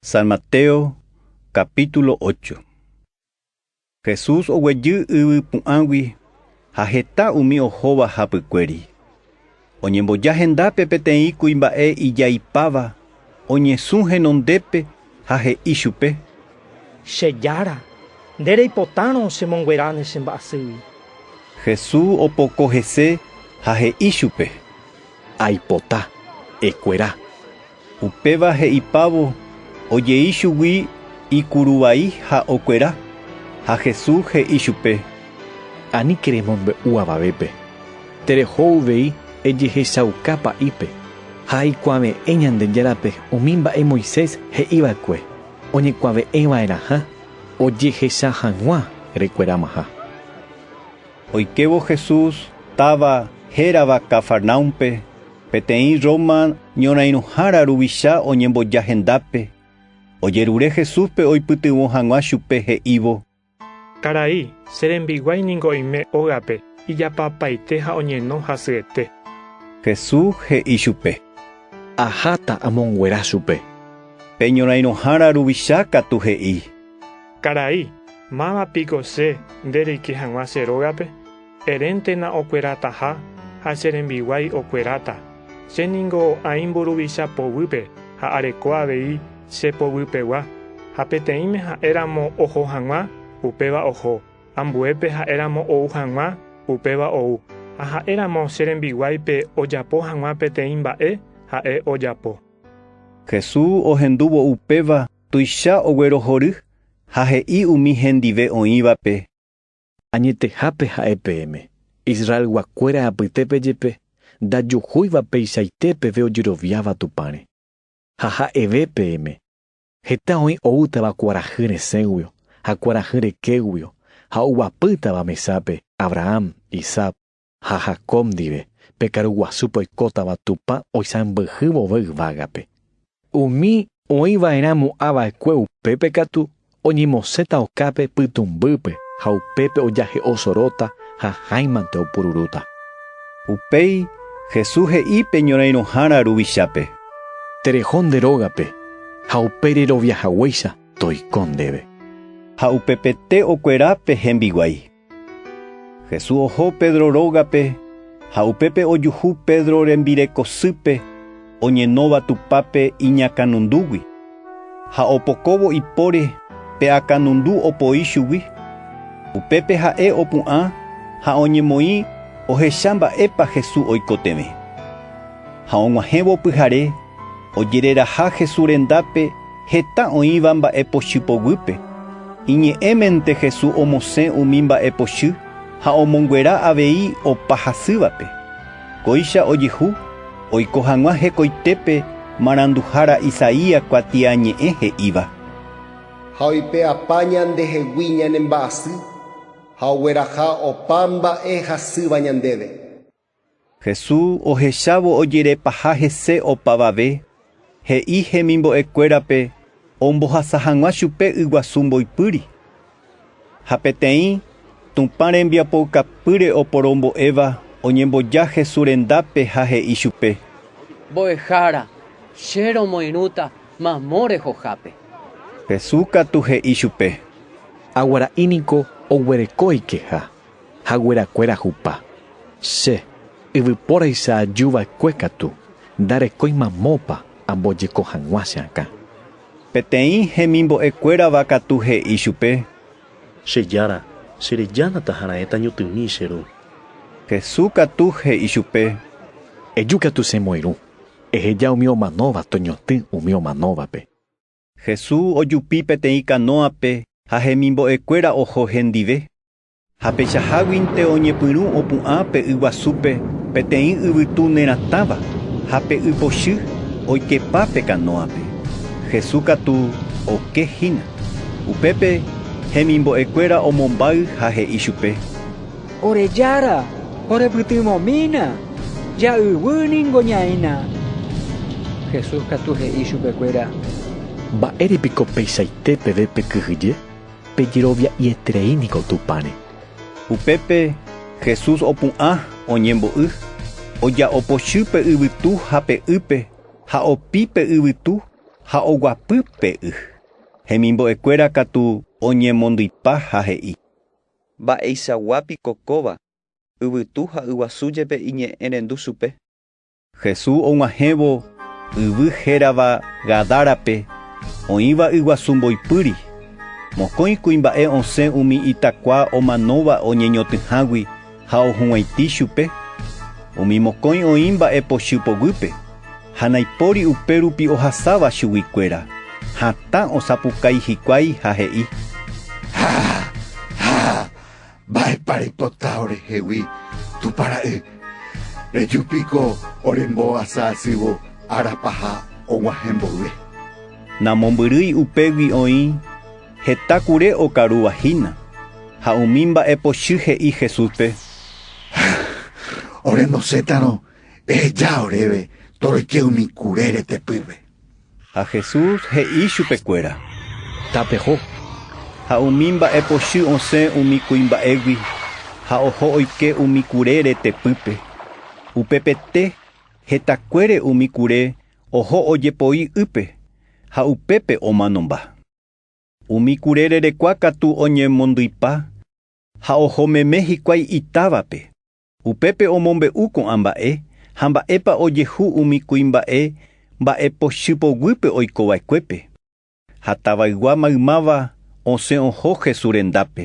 San Mateo capítulo ocho. Jesús oguejy yvy pu'ãgui ha heta umi ohóva hapykuéri. Oñemboja hendápe peteĩ kuimba'e ijaipáva, oñesũ henondépe ha he'i chupe. Che Jára, nde reipotárõ chemonguera ne che mba'asýgui. Jesús opoko hese ha he'i chupe. Aipota, ekuera. Upéva he'ipávo ojei chugui ikuruvai ha okuera. Ha Jesús he'i chupe: “Aníke remombe'u avavépe, tereho uvei ejehechauka pa'ípe ha aikuave'ẽ Ñandejárape umi mba'e Moisés he'i va'ekue oñekuave'ẽ va'erãha ojehecha hag̃ua rekueramaha. Oikévo Jesús táva hérava Cafarnaúmpe, peteĩ Roma ñorãirõhára ruvicha oñemboja hendápe, ojerure Jesúspe oipytyvõ hag̃ua chupe he'ívo. Karai, che rembiguái ningo oime ógape ijapapaite ha oñeno hasyete. Jesús he'i chupe. Aháta amonguera chupe. Pe ñorãirõhára ruvicha katu he'i. Karai, máva piko che nde reike hag̃ua che rógape? Eréntena okuerataha ha che rembiguái okueráta. Che ningo aĩ mburuvicha poguýpe ha areko avei che poguýpegua, ha peteĩme ha'e ramo oho hag̃ua, upéva oho, ambuépe ha'e ramo ou hag̃ua, upéva ou, ha ha'e ramo che rembiguáipe ojapo hag̃ua peteĩ mba'e, ha'e ojapo. Jesús ohendúvo upéva Tuicha oguerohory ha he'i umi hendive oĩvape. Añetehápe ha'e peẽme, Israelguakuéra apytépe jepe, ndajuhúiva peichaite peve ojeroviáva Tupãre. Ha ha'eve peẽme, Heta oĩ oútava kuarahy resẽguio ha kuarahy rekéguio ha oguapýtava mesápe Abraham, Isaac Ha Jacob ndive, pe karu guasúpe oikótava Tupã oisãmbyhy vove yvágape. Umi oĩ va'erã mo'ã va'ekue upépe katu oñemosẽta okápe pytũmbýpe ha upépe ojahe'o soróta ha háimante opururúta. Upéi Jesús he'i pe ñorairõhára ruvichápe. Tereho nde rógape, ha upe rerovia haguéicha toiko ndéve. Ha upepete okuera pe hembiguái. Jesús oho Pedro rógape ha upépe ojuhu Pedro rembirekosýpe oñenóva Tupãpe iñakãnundúgui, ha opokóvo ipóre pe akãnundu opoi chugui. Upépe ha'e opu'ã ha oñemoĩ ohecha mba'épa Jesús oikotevẽ. Ha og̃uahẽvo pyhare, Ojereraha Jesús rendápe heta oĩva mba'epochy poguýpe. Iñe'ẽmente Jesús omosẽ umi mba'epochy ha omonguera avei opa hasývape. Kóicha ojehu oiko hag̃ua hekoitépe maranduhára Isaías kuatiañe'ẽ he'íva. Ha oipe'apa ñandehegui ñane mba'asy, ha ogueraha opa mba'e hasýva ñandéve. Jesús ohechávo ojerepaha hese opavave, he'i hemimbo'ekuérape ombohasa hag̃ua chupe yguasu mboypýri. Ha peteĩ Tupã rembiapoukapýre oporombo'éva oñemboja Jesús rendápe ha he'i chupe. Mbo'ehára, che romoirũta mamo rehohápe. Jesús katu he'i chupe. Aguara'i niko oguereko oikeha. Haguerakuéra hupa. Che, yvypóraicha aju va'ekue katu, ndarekói mamópa ambojeko hag̃ua che akã. Peteĩ hemimbo'e kuérava katu he'i chupe. Che jára, che reja nataharãeta ñotymi che ru. Hesu katu he'i chupe. Eju katu che moirũ, eheja umi omanóva toñotỹ umi omanóvape. Jesús ojupi peteĩ kanóape ha hemimbo'ekuéra oho hendive. Ha peichaháguinte oñepyrũ opu'ã pe yguasúpe peteĩ yvytu neratãva, ha pe y pochy oikepa pe kanóape. Jesús katu oke hína. Upépe hemimbo'ekuéra omombáy ha he'i chupe: Ore Jára, orepytyvõmína! Ja'yvy ningo ñaína! Jesús katu he'i chupekuéra. Mba'ére piko peichaite peve pekyhyje? Pejerovia'ieterei niko Tupãre. Upépe Jesús opu'ã oñembo'y, oja'o pochy pe yvytu ha pe ýpe ha opi pe yvytu ha oguapy pe y. Hemimbo'ekuéra katu oñemondypa ha he'i. Mba'eichagua piko kóva, yvytu ha yguasu jepe iñe'ẽrendu chupe. Jesús og̃uahẽvo yvy hérava Gadárape, oĩva yguasu mboypýri, mokõi kuimba'e osẽ umi itakua omanóva oñeñotỹhágui ha ohug̃uaitĩ chupe, umi mokõi oĩ mba'e pochy poguýpe. Ha naipóri upérupi ohasáva chuguikuéra, hatã osapukái hikuái ha he'i, Ha! Ha! Mba'épa reipota orehegui, Tupã Ra'y? Reju piko ore mbohasa asývo ára paha oguahẽ mboyve. Namombyrýi upégui oĩ heta kure okarúva hína. Ha umi mba'e pochy he'i Jesúspe, Ha! Ore nosétarõ Eheja oréve toroike umi kure retepýpe. Ha Jesús he'i chupekuéra, Tapeho. Ha umi mba'e pochy osẽ umi kuimba'égui ha oho oike umi kure retepýpe. Upepete, hetakuére umi kure oho ojepoi ýpe, ha upépe omanomba. Umi kure rerekua katu oñemondyipa ha oho meme hikuái itávape. Upépe omombe'u ko'ã mba'e ha mba'épa ojehu umi kuimba'e mba'epochy poguýpe oiko va'ekuépe. Ha tavaygua maymáva osẽ oho Jesús rendápe.